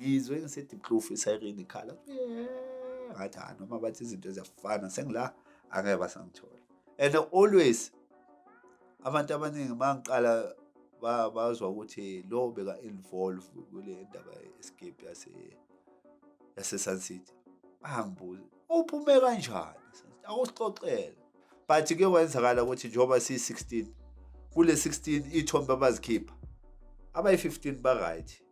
ngizwe ngisediplofu isayireni ikhala ngathi ha noma bathi izinto ziyafana sengila angeke basangithola and always abantu abaningi uma ngiqala bazwa ukuthi lo beka-involve kule ndaba ye-escape yasesun city bangibuza uphume kanjani akusixoxele but ke kwenzakala ukuthi njengoba siyi-16 kule-16 ithombe abazikhipha abayi-15 ba-right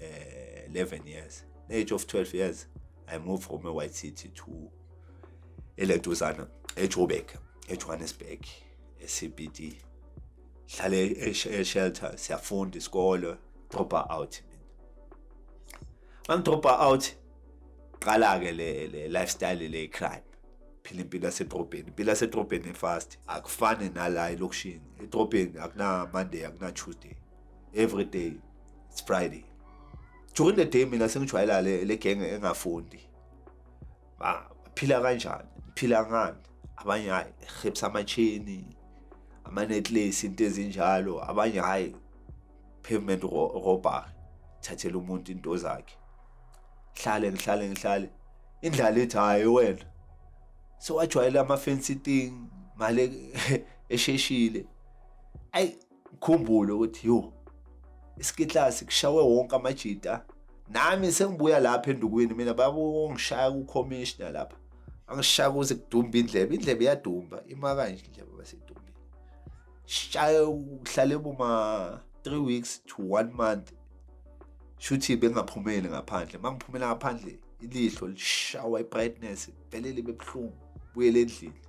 uh, 11 years the age of 12 years i moved from a-white city to eleduzana ejoburg ejohannesburg ecbd hlale eshelter siyafunda isikole dropa out mina angidropa out qala-ke le, le lifestyle le crime phila impilo yasedrobheni impilo yasedrobheni efast akufani nala elokishini edrobheni akunamonday akunaTuesday every day it's friday during the day mina sengijwayela le le gang engafundi ba phila kanjani phila ngani abanye hayi hips amachini ama necklace into ezinjalo abanye hayi pavement robber thathela umuntu into zakhe hlale ngihlale ngihlale indlala ethi hayi wena sewajwayela ama fancy thing mali esheshile ayi Ngikhumbule ukuthi yo isikitla sikushawe wonke amajita nami sengibuya lapha endukwini mina babongishaya kucommissioner lapha angishaya kuze kudumba indlebe indlebe iyadumba ima kanje indlebe basedumba shaye uhlale boma 3 weeks to 1 month shuthi bengaphumeli ngaphandle mangiphumela ngaphandle ilihlo lishawa ibrightness velele bebuhlungu buyele endlini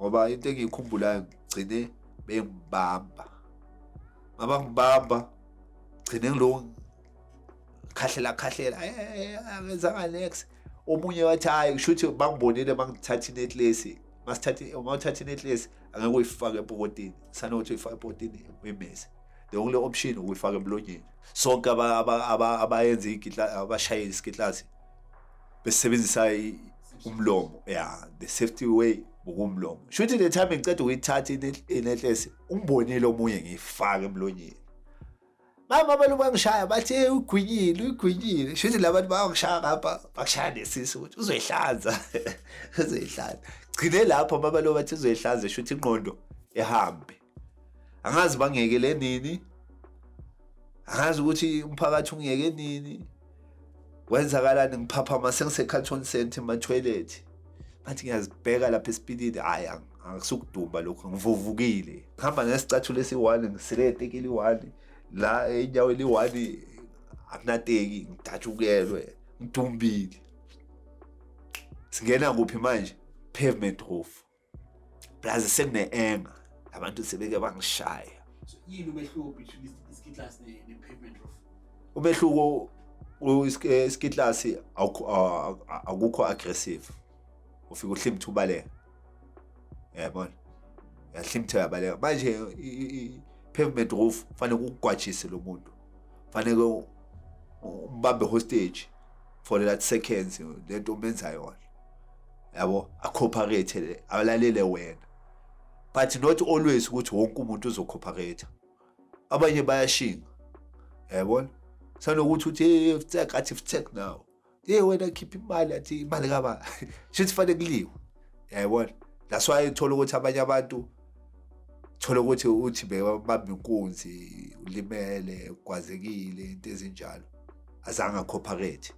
ngoba into engiyikhumbulayo ngigcine bengibamba mama ngibamba gcine ngiloku khahlela khahlela angenzanga eh, eh, eh, next omunye wathi hayi kusho ukuthi bangibonile mangithatha inetlesi masithatha uma uthatha inetlesi angeke uyifake epokotini sanokuthi uyifake epokotini uyimese the only option ukuyifaka emlonyeni sonke abayenza igitla abashayela isigitlasi besebenzisa umlomo ya the safety way ngokumlomo shuthi le time ngiceda ukuyithatha inetlesi umbonile omunye ngiyifaka emlonyeni mama abantu bangishaya bathi hey ugwinyile ugwinyile shuthi labantu bangishaya ngapha bakushaya nesisi ukuthi uzoyihlanza uzoyihlanza gcine lapho mama lo bathi uzoyihlanza shuthi inqondo ehambe angazi bangiyekele nini angazi ukuthi umphakathi ungiyeke nini kwenzakalani ngiphaphama sengisecarton center ematoilet ngathi ngiyazibheka lapha esipilini hhayi angisukudumba lokho ngivuvukile ngihamba nesicathulo esiyi-one ngisile eteki eliyi-one la inyawo eliyi-one akunateki ngidatshukelwe ngidumbile singena kuphi manje pavement roof Plus sekune anger. Abantu sebeke bangishaya. So yini umehluko between iskitlas ne, ne pavement roof? Umehluko iskitlas akukho aggressive. Ufika uhlimtha ubaleka. Yabona? Yahlimtha yabaleka. Manje i pavement roof fanele ukugwajise lo muntu. Fanele umbambe hostage for that seconds lento omenza yona. yabo acooperate alalele wena but not always ukuthi wonke umuntu uzocooperate abanye bayashinga yabona sanokuthi uthi hey ftek athi ftek now hey wena khipha imali athi imali kaba shithi fanele kuliwe yabona that's why uthola ukuthi abanye abantu thola ukuthi uthi bebamba inkunzi ulimele kwazekile into ezinjalo azange acooperate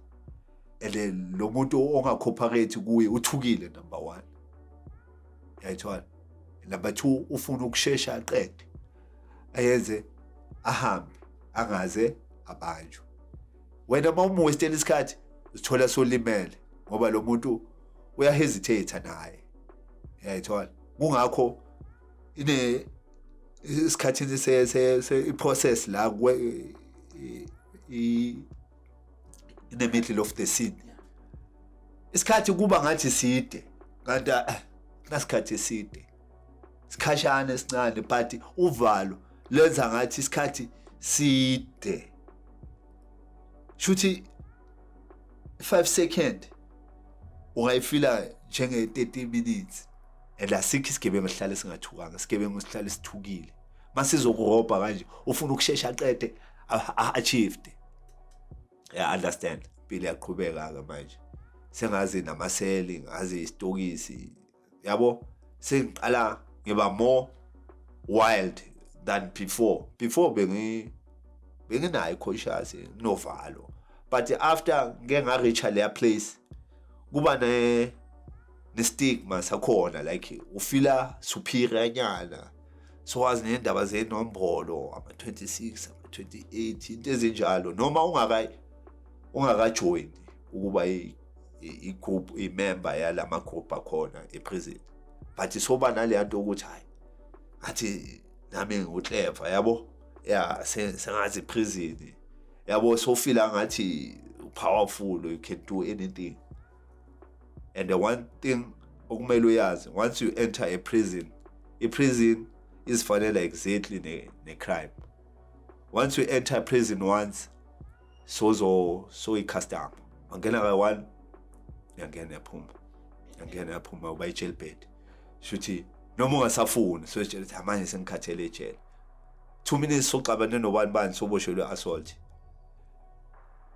and then lo muntu ongakhophakethi kuye uthukile number one yayithola number two ufuna ukushesha aqede ayenze ahambe angaze abanjwe wena uma umuwestela isikhathi uzithola solimele ngoba lo muntu uyahesitate naye yayithola kungakho ine isikhathini se se i process la kwe i in the middle of the scene isikhathi kuba ngathi side kanti ah, nasikhathi eside sikhashana esincane but uvalo lenza ngathi isikhathi side shuthi 5 second ungayifila njenge 30 minutes and asikho isigebengu esihlale singathukanga isigebengu sihlale sithukile masizokurobha kanje ufuna ukushesha aqede achieved yeah understand impilo yaqhubeka ke manje sengazi namaseli ngazi isitokisi yabo sengiqala ngiba more wild than before before bengi benginayo conscious novalo but after ngeke nga reach leya place kuba ne ne stigma sakhona like ufila superior nyana sowazi nendaba zenombolo ama-26 ama-28 into ezinjalo noma ungaka ungakajoyini ukuba i-group imemba yala magroup akhona eprison but soba naleya nto ukuthi hhayi ngathi nami ngiwutleva yabo ya sengazi iprison yabo sofila ngathi powerful you can do anything and the one thing okumele uyazi once you enter a prison i-prison izifanela exactly ne-crime ne once you enter prison once sozo soyi-custom angena kayi-one yangena yaphuma yangena yaphuma uba i-jail bed shuthi noma ungasafuni soyitshela ukuthi amanje sengikhathele ejele two minutes soxabane nobani bani soboshelwe assault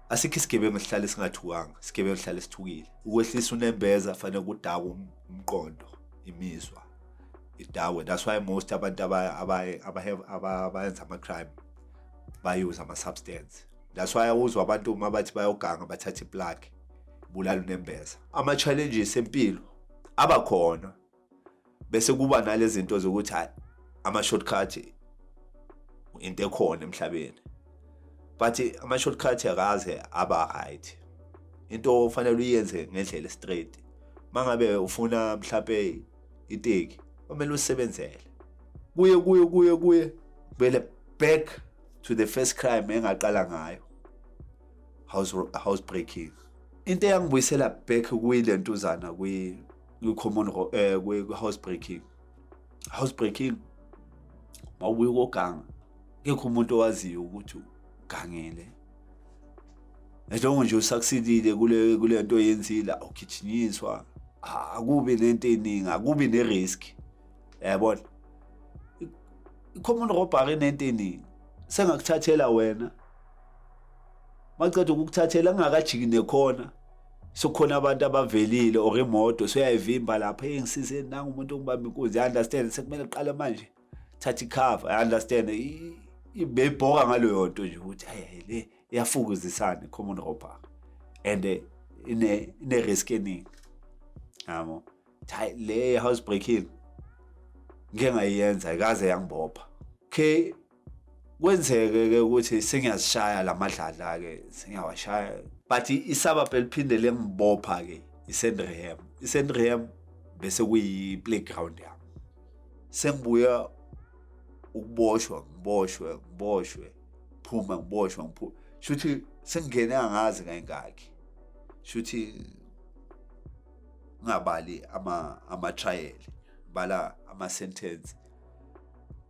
asikho isigebengu sihlale singathukanga isigebengu sihlale sithukile ukwehlisa unembeza fanele kudakwe um-, umqondo imizwa idakwe that's why most abantu abayenza ama-crime bayuze ama-substance that's why awuzwa abantu uma bathi bayoganga bathathe iplaki bulala unembeza ama-challenges empilo abakhona bese kuba nalezi zinto zokuthi hayi ama-shortcut into ekhona emhlabeni but ama-shortcut akaze aba right into ofanele uyenze ngendlela straight mangabe ufuna mhlape iteki kwamele usebenzele kuye kuye kuye kuye vele back to the first crime engaqala ngayo house house breaking into eyangibuyisela back kuyilentuzana kwi kwi-common eh, kwi-housebreaking housebreaking mawubuye ukoganga kekho umuntu owaziyo ukuthi ugangele njengo nje usucceedile kule kule nto oyenzile awugijinyinswa akubi nento eningi akubi ne-risk yabona i-common robbery nento eningi sengakuthathela wena maceda ukukuthathela ngingakajiki nekhona sokhona abantu abavelile or imoto soyayivimba lapha hey ngisize nanga umuntu ongibamba inkunzi i understand sekumele qale manje thatha ikhava i understand ibebhoka ngaleyo nto nje ukuthi hayi le iyafukuzisana common robber and eh, ine ine risk eningi yabo hayi le house breaking ngeke ngayenza ayikaze yangibopha okay kwenzeke ke ukuthi sengiyazishaya lamadlala ke sengiyawashaya but isabab eliphinde lengibopha ke isendreham isendreham bese kuyi playground yami sengibuya ukuboshwa ngiboshwe ngiboshwe phuma ngiboshwa ngiphuma shuthi sengingene angazi kayingakhi shuthi ngingabali ama ama trial bala ama sentence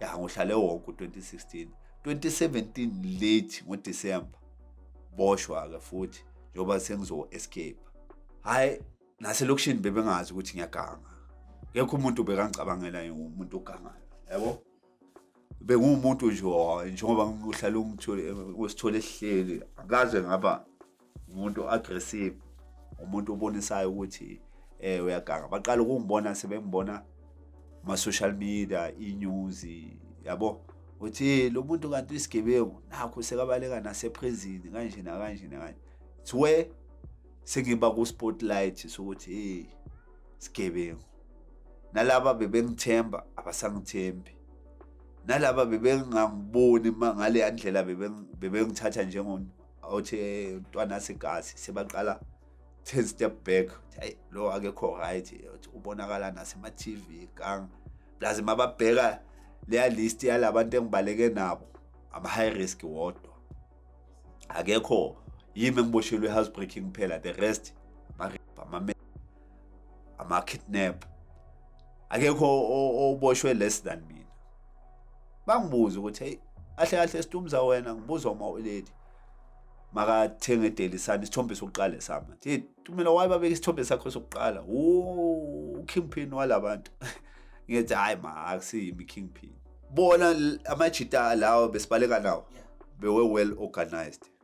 ya ngohlale wonke u-2016 2017 late ngodisemba boshwa-ke futhi njengoba sengizo-escape hhayi naselokishini bebengazi ukuthi ngiyaganga ngekho umuntu bekangicabangela umuntu ogangayo yabo benguwumuntu nje njengoba ngihlale usithole esihleli akaze ngaba umuntu aggressive umuntu obonisayo ukuthi eh uyaganga baqala ukungibona sebengibona ma social media inews yabo uthi lo muntu kanti isigebengu nakho sekabaleka naseprezini kanje nakanje nakanje thiwe sengiba ku spotlight sokuthi hey sigebengu nalaba bebengithemba abasangithembi nalaba bebengangiboni ngale yandlela bebengithatha njengomuntu awuthi eh, ntwana segazi sebaqala 10 step back hayi lo akekho right uthi ubonakala nasema TV gang plus mababheka leya list yalabantu engibaleke nabo ama high risk wodwa akekho yimi engiboshelwe house breaking phela the rest ama ama-kidnap akekho oboshwe less than mina bangibuze ukuthi hey ahle kahle situmza wena ngibuza uma uleli makathenge daily sun isithombe sokuqala sama thi tumela waye babeka isithombe sakho sokuqala u kingpin walabantu ngithi hayi ma akusiyimi kingpin bona amajita lawo besibaleka nawo bewe well organized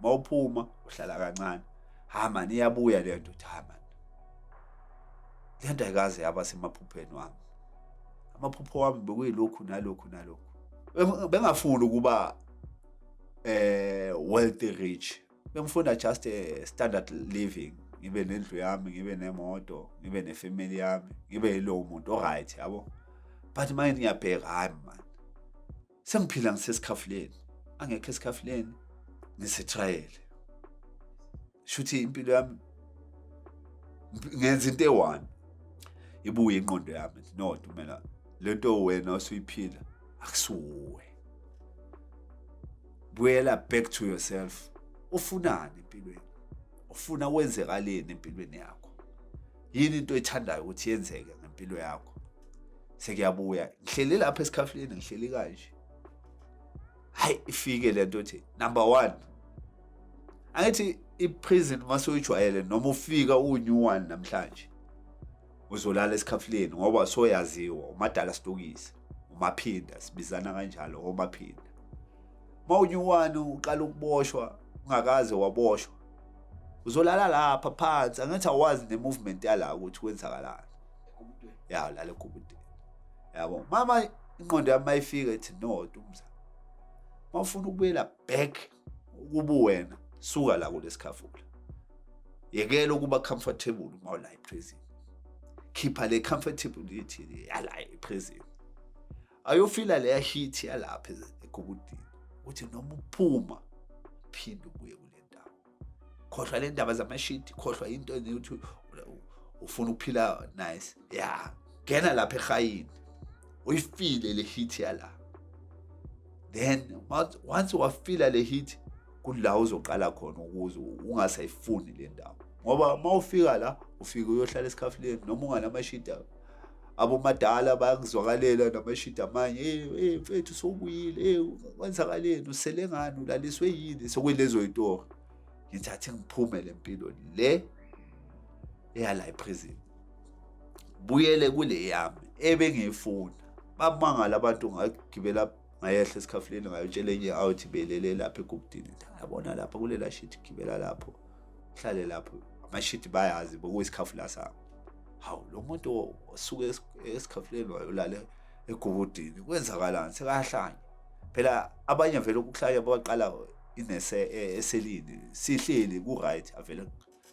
mawuphuma uhlala kancane ha mani iyabuya le nto ha mani le nto ayikaze yaba semaphupheni wami amaphupho wami bekuyilokhu nalokhu nalokhu bengafuni ukuba eh wealthy rich bengifunda just a standard living ngibe nendlu yami ngibe nemoto ngibe nefamily yami ngibe yilowo muntu oright yabo but manje ngiyabheka hayi mani sengiphila ngisesikhafuleni angekho esikhafuleni ngisetrayele shuthi impilo yami ngenza into eyi-one ibuye inqondo yami no dumela le nto wena osuyiphila akusuwe buyela back to yourself ufunani empilweni ufuna kwenzekaleni empilweni yakho yini into oyithandayo ukuthi yenzeke ngempilo yakho sekuyabuya ngihleli lapha esikhafuleni ngihleli kanje hayi ifike le nto othi number one angithi i-prison uma soyijwayele noma ufika uwu-new one namhlanje uzolala esikhafuleni ngoba soyaziwa umadala sitokisi umaphinda sibizana kanjalo omaphinda mawunyuwani uqala ukuboshwa ungakaze waboshwa uzolala lapha phansi angithi awazi ne-movement yala ukuthi kwenzakalani ya ulala egubudeni yabo mama inqondo yami mayifika ithi no dumza mawufuna ukubuyela back ukubu wena suka la kulesikhafula yekela ukuba comfortable uma ula eprison khipha le comfortability yala eprison ayofila leya hit yalapha egubudini ukuthi noma uphuma phinde ubuye kule ndawo khohlwa le ndaba zamashidi khohlwa into ukuthi ufuna ukuphila nice ya ngena lapha ehayini uyifile le hit yala then once wafila le hit kula uzoqala khona ukuze ungasayifuni le ndawo ngoba uma ufika la ufike uyohlala esikhafuleni noma unganamashidi abomadala bayakuzwakalela namashidi amanye hey mfethu sowubuyile hey kwenzakaleni usele ngani ulaliswe yini sokwelezo yitori ngithi athi ngiphume le mpilo le eyala eprison buyele kule yami ebengiyifuna bamangala abantu ngagibela ngayehla esikhafuleni ngayotshela enye awuthi belele lapha egubudini yabona lapha kulela shiti gibela lapho hlale lapho amashiti bayazi bokuyisikhafu la sabo hawu lo muntu osuke esikhafuleni wayolale egubudini kwenzakalani sekahlanya phela abanye vele ukuhlanya baqala inese e, eselini sihleli ku right avele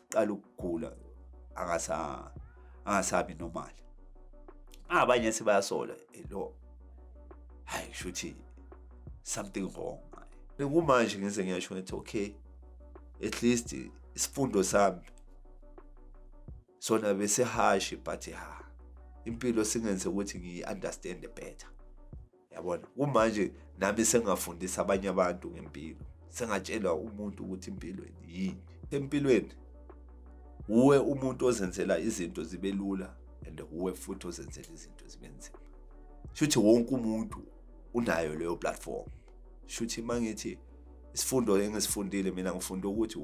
qala ukugula angasa angasabi normal abanye sibayasola eh, lo hayi shuthi something wrong kumanje ngize ngiyasho ngathi okay at least isifundo sami sona bese hashi but ha impilo singenze ukuthi ngiyi understand better yabona kumanje nami sengafundisa abanye abantu ngempilo sengatshela umuntu ukuthi impilo yini empilweni uwe umuntu ozenzela izinto zibe lula and uwe futhi ozenzela izinto zibe nzima shuthi wonke umuntu unayo leyo platform shuthi mangithi isifundo engisifundile mina ngifunda ukuthi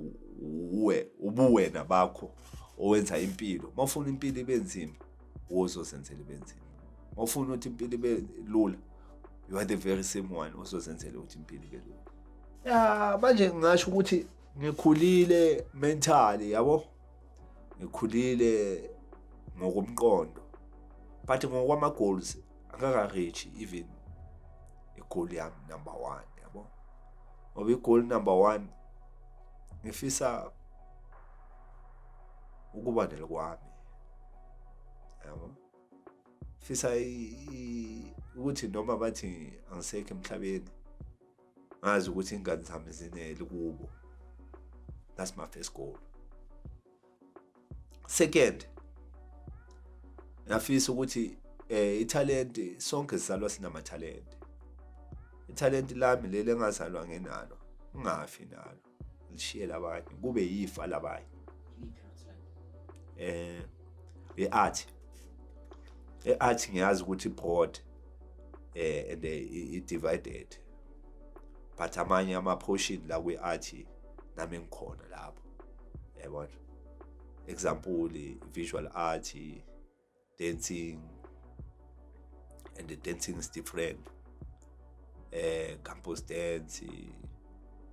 uwe ubuwena bakho owenza impilo uma ufuna impilo ibe nzima wozozenzela ibe nzima uma ufuna ukuthi impilo ibe lula you are the very same one osozenzele ukuthi impilo ibe lula ya manje ngingasho ukuthi ngikhulile mentally yabo ngikhulile ngokomqondo but ngokwama-goals akakareach even igoli yami number one yabo ngoba igoli number one ngifisa ukuba nelokwami yabo fisa ukuthi noma bathi angisekho emhlabeni ngazi ukuthi ingane zami zinele kubo that's my first goal second ngafisa ukuthi eh ithalente sonke sizalwa sinamathalente ithalente lami leli engazalwa ngenalo ungafi nalo lishiyela abanye kube yifa labanye eh iart iart ngiyazi ukuthi broad eh and i divided but amanye ama portion la kwi art nami ngikhona lapho yabona example visual art dancing and the dancing is different eh campus dance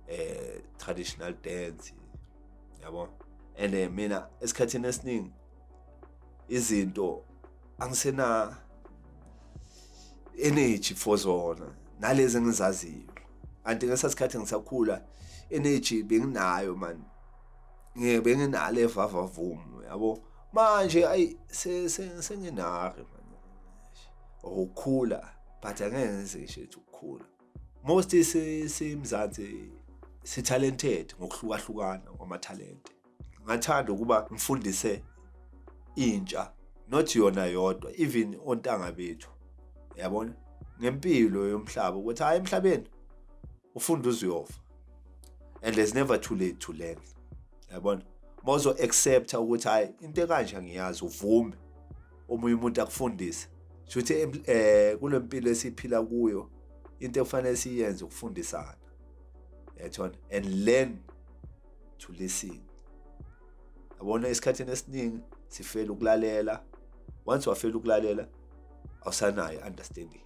eh traditional dance yabo and eh, mina esikhathini esiningi izinto angisena energy for zona nalezi engizaziyo kanti ngesa sikhathi ngisakhula energy benginayo man ngeke benginalo evava vum yabo manje ayi senginari man ukukhula but angeke ngize ngisho ukukhula most simzansi si talented ngokuhlukahlukana kwamathalente ngathanda ukuba ngifundise intsha not yona yodwa even ontanga bethu yabona ngempilo yomhlaba ukuthi hayi emhlabeni ufunda uziyofa and there's never too late to learn yabona mawuzo accepta ukuthi hayi into ekanje ngiyazi uvume omunye umuntu akufundise shuthi eh kulempilo esiphila kuyo into efanele siyenze ukufundisana yethona and learn to listen yabona esikhathini esiningi sifela ukulalela once wafela ukulalela awusanayo understanding